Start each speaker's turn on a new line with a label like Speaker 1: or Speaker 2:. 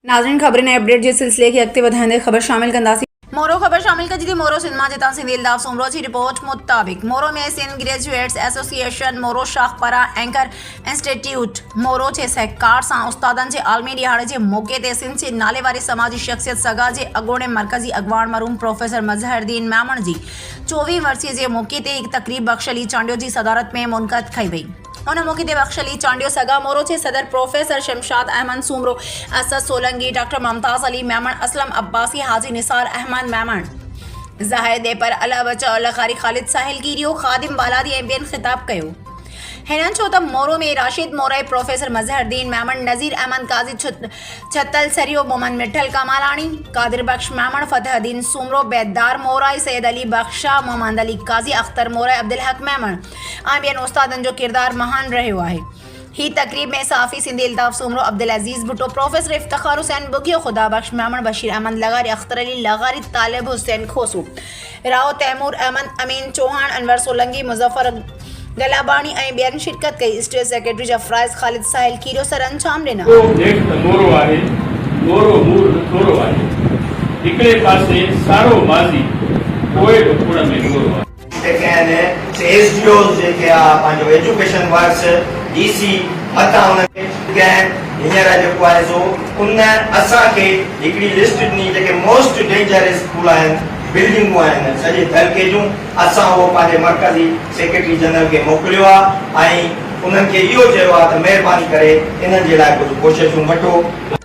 Speaker 1: ناظرين خبرن ۽ اپڊيٽ جي سلسلي کي اڳتي وڌائيندي خبر شامل ڪنداسين. مورو خبر شامل ڪجي ٿي مورو سينما جي تان سنڌي الطاف سومرو جي رپورٽ مطابق مورو ۾ سنڌ گريجوئيٽس ايسوسيئيشن مورو شاخ پاران اينڪر انسٽيٽيوٽ مورو جي سهڪار سان استادن جي عالمي ڏهاڙي جي موقعي تي سنڌ جي ناليواري سماجي شخصيت سگا جي اڳوڻي مرڪزي اڳواڻ مرحوم پروفيسر مظهرالدين ميمڻ جي چوويهين ورسيء جي موقعي تي هڪ تقريب بخش علي چانڊيو جي صدارت ۾ منعقد ڪئي وئي. ان موقعي تي بخش علي چانڊيو، سگا مورو جي صدر پروفيسر شمشاد احمد سومرو، اسد سولنگي، ڊاڪٽر ممتاز علي ميمڻ، اسلم عباسي، حاجي نثار احمد ميمڻ، ظاهر ڏيپر، الله بچاء، لغاري خالد ساحل ڪيريو، خادم بالادي ۽ ٻين خطاب ڪيو. هنن چيو ته مورو ۾ راشد مورائي، پروفيسر مظهرالدين ميمڻ، نذير احمد قاضي ڇتل سريو، محمد مٺل ڪاماراڻي، قادر بخش ميمڻ، فتح الدين سومرو، بيدار مورائي، سيد علي بخش شاهه، محمد علي قاضي، اختر مورائي، عبدالحق ميمڻ، ۽ ٻين استادن جو ڪردار مهان رهيو آهي. هي تقريب ۾ صحافي سنڌي الطاف سومرو، عبدالعزيز ڀٽو، پروفيسر افتخار حسين ٻگهيو، خدا بخش ميمڻ، بشير احمد لغاري، اختر علي لغاري، طالب حسين کوسو، راهو تيمور احمد، امين چوهاڻ، انور سولنگي، مظفر گلاباڻي ۽ ٻين شرڪت ڪئي. اسٽيٽ سيڪريٽري جفرائز خالد ساحل کيرو سر انجام ڏنا. اهو هيٺ ته نورو آهي، نورو نور نه ٿورو آهي.
Speaker 2: هڪڙي پاسي سارو ماضي، پوء به ڪوڙ ۾ ڳورو آهي. جتي ڪنهن نه
Speaker 3: سي ايس ڊي اوز جيڪي آ پنهنجو ايجوڪيشن ورڪس ڊي سي متان انهن کي ڪنهن هينئر جيڪو آهي سو ان اسان کي هڪڙي لسٽ ڏني جيڪي موسٽ ڊينجر اسڪول آهن بلڊنگون آهن سڄي تعلقي جون اسان اهو پنهنجي مرڪزي سيڪريٽري جنرل کي موڪليو آ ۽ انهن کي اهو چيو آ ته مهرباني ڪري انهن جي لاء ڪجهه ڪوششون وٺو.